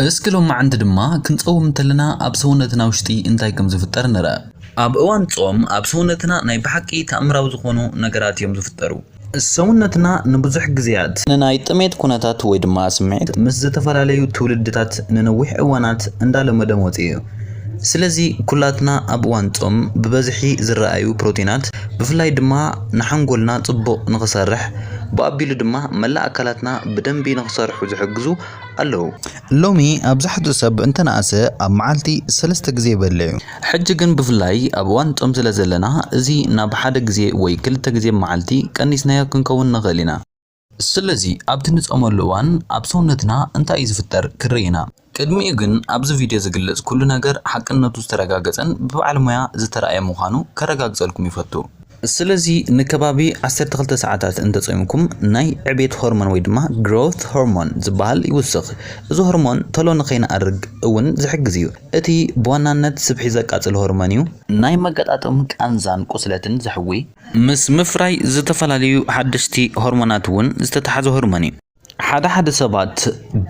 እስኪ ሎማዕንቲ ድማ ክንጸውም እንተለና ኣብ ሰውነትና ውሽጢ እንታይ ከም ዝፍጠር ንርኣ። ኣብ እዋን ጾም ኣብ ሰውነትና ናይ ብሓቂ ተኣምራዊ ዝኾኑ ነገራት እዮም ዝፍጠሩ። ሰውነትና ንብዙሕ ግዜያት ንናይ ጥሜት ኩነታት ወይ ድማ ስምዒት ምስ ዝተፈላለዩ ትውልድታት ንነዊሕ እዋናት እንዳለመዶ መጺኡ እዩ። ስለዚ ኩላትና ኣብ እዋን ጾም ብበዝሒ ዝረኣዩ ፕሮቲናት ብፍላይ ድማ ንሓንጎልና ጽቡቕ ንኽሰርሕ ብኣቢሉ ድማ መላእ ኣካላትና ብደንቢ ንኽሰርሑ ዝሕግዙ ኣለዉ። ሎሚ ኣብዛሕትኡ ሰብ እንተነኣሰ ኣብ መዓልቲ ሰለስተ ግዜ ይበልዕ እዩ። ሕጂ ግን ብፍላይ ኣብ እዋን ጾም ስለ ዘለና እዚ ናብ ሓደ ግዜ ወይ ክልተ ግዜ ብ መዓልቲ ቀኒስናዮ ክንከውን ንኽእል ኢና። ስለዚ ኣብቲ ንጾመሉ እዋን ኣብ ሰውነትና እንታይ እዩ ዝፍጠር ክንርኢ ኢና። ቅድሚኡ ግን ኣብዚ ቪድዮ ዝግለጽ ኩሉ ነገር ሓቅነቱ ዝተረጋገጸን ብበዓል ሞያ ዝተራእየ ምዃኑ ከረጋግጸልኩም ይፈቱ። ስለዚ ንከባቢ ዓሰርተ ክልተ ሰዓታት እንተ ጾይምኩም ናይ ዕብየት ሆርሞን ወይ ድማ ግሮውት ሆርሞን ዝበሃል ይውስኽ። እዚ ሆርሞን ቶሎ ንኸይንኣርግ እውን ዝሕግዝ እዩ። እቲ ብዋናነት ስብሒ ዘቃጽል ሆርሞን እዩ። ናይ መገጣጥም ቃንዛን ቁስለትን ዘሕዊ። ምስ ምፍራይ ዝተፈላለዩ ሓደሽቲ ሆርሞናት እውን ዝተተሓዘ ሆርሞን እዩ። ሓደ ሓደ ሰባት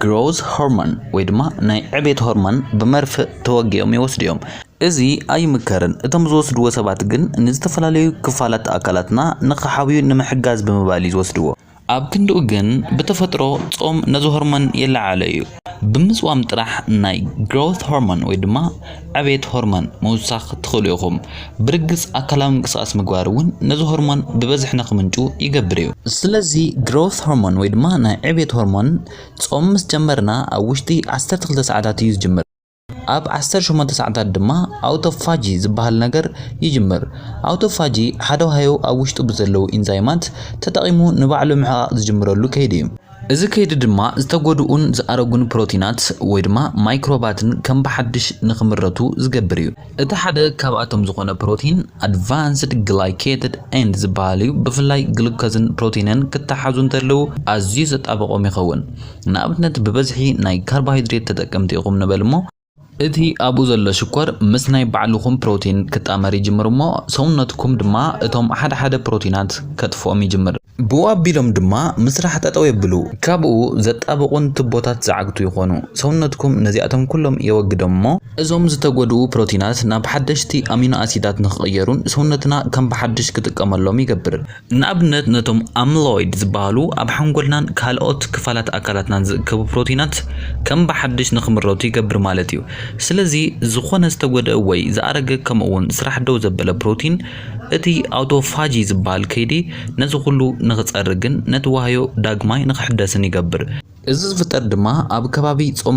ግሮዝ ሆርሞን ወይ ድማ ናይ ዕቤት ሆርሞን ብመርፍእ ተወጊኦም ይወስዱ እዮም። እዚ ኣይምከርን፣ እቶም ዝወስድዎ ሰባት ግን ንዝተፈላለዩ ክፋላት ኣካላትና ንኽሓውዩ ንምሕጋዝ ብምባል እዩ ዝወስድዎ። ኣብ ክንድኡ ግን ብተፈጥሮ ጾም ነዚ ሆርሞን የለዓዕሎ እዩ። ብምጽዋም ጥራሕ ናይ ግሮውት ሆርሞን ወይ ድማ ዕቤት ሆርሞን ምውሳኽ ትኽእሉ ኢኹም። ብርግጽ ኣካላዊ ምንቅስቓስ ምግባር እውን ነዚ ሆርሞን ብበዝሒ ንክምንጩ ይገብር እዩ። ስለዚ ግሮውት ሆርሞን ወይ ድማ ናይ ዕቤት ሆርሞን ጾም ምስ ጀመርና ኣብ ውሽጢ 12 ሰዓታት እዩ ዝጅምር። ኣብ ዓሰርተ ሸሞንተ ሰዓታት ድማ ኣውቶፋጂ ዝበሃል ነገር ይጅምር። ኣውቶፋጂ ሓደ ዋህዮ ኣብ ውሽጡ ብዘለዉ ኢንዛይማት ተጠቒሙ ንባዕሉ ምሕቓቕ ዝጅምረሉ ከይዲ እዩ። እዚ ከይዲ ድማ ዝተጎድኡን ዝኣረጉን ፕሮቲናት ወይ ድማ ማይክሮባትን ከም ብሓድሽ ንክምረቱ ዝገብር እዩ። እቲ ሓደ ካብኣቶም ዝኾነ ፕሮቲን ኣድቫንስድ ግላይኬትድ ኤንድ ዝበሃል እዩ። ብፍላይ ግሉኮዝን ፕሮቲንን ክተሓዙ እንተለዉ ኣዝዩ ዘጣበቖም ይኸውን። ንኣብነት ብበዝሒ ናይ ካርቦሃይድሬት ተጠቀምቲ ኢኹም ንበል እሞ፣ እቲ ኣብኡ ዘሎ ሽኮር ምስ ናይ ባዕልኹም ፕሮቲን ክጣመር ይጅምር እሞ ሰውነትኩም ድማ እቶም ሓደ ሓደ ፕሮቲናት ከጥፍኦም ይጅምር። ብኡ ኣቢሎም ድማ ምስራሕ ጠጠው የብሉ። ካብኡ ዘጣብቑን ቱቦታት ዝዓግቱ ይኾኑ። ሰውነትኩም ነዚኣቶም ኩሎም የወግዶም እሞ፣ እዞም ዝተጎድኡ ፕሮቲናት ናብ ሓደሽቲ ኣሚኖ ኣሲዳት ንክቕየሩን ሰውነትና ከም ብሓድሽ ክጥቀመሎም ይገብር። ንኣብነት ነቶም ኣምሎይድ ዝበሃሉ ኣብ ሓንጎልናን ካልኦት ክፋላት ኣካላትናን ዝእከቡ ፕሮቲናት ከም ብሓድሽ ንክምረቱ ይገብር ማለት እዩ። ስለዚ ዝኾነ ዝተጎድኣ ወይ ዝኣረገ ከምኡ'ውን ስራሕ ደው ዘበለ ፕሮቲን እቲ ኣውቶፋጂ ዝበሃል ከይዲ ነዚ ኩሉ ንክፀርግን ነቲ ዋህዮ ዳግማይ ንክሕደስን ይገብር። እዚ ዝፍጠር ድማ ኣብ ከባቢ ፆም ምብሳል ዝፍጠር ዳሕረግ ዝበሃል ፕሮቲን ይፍጠር።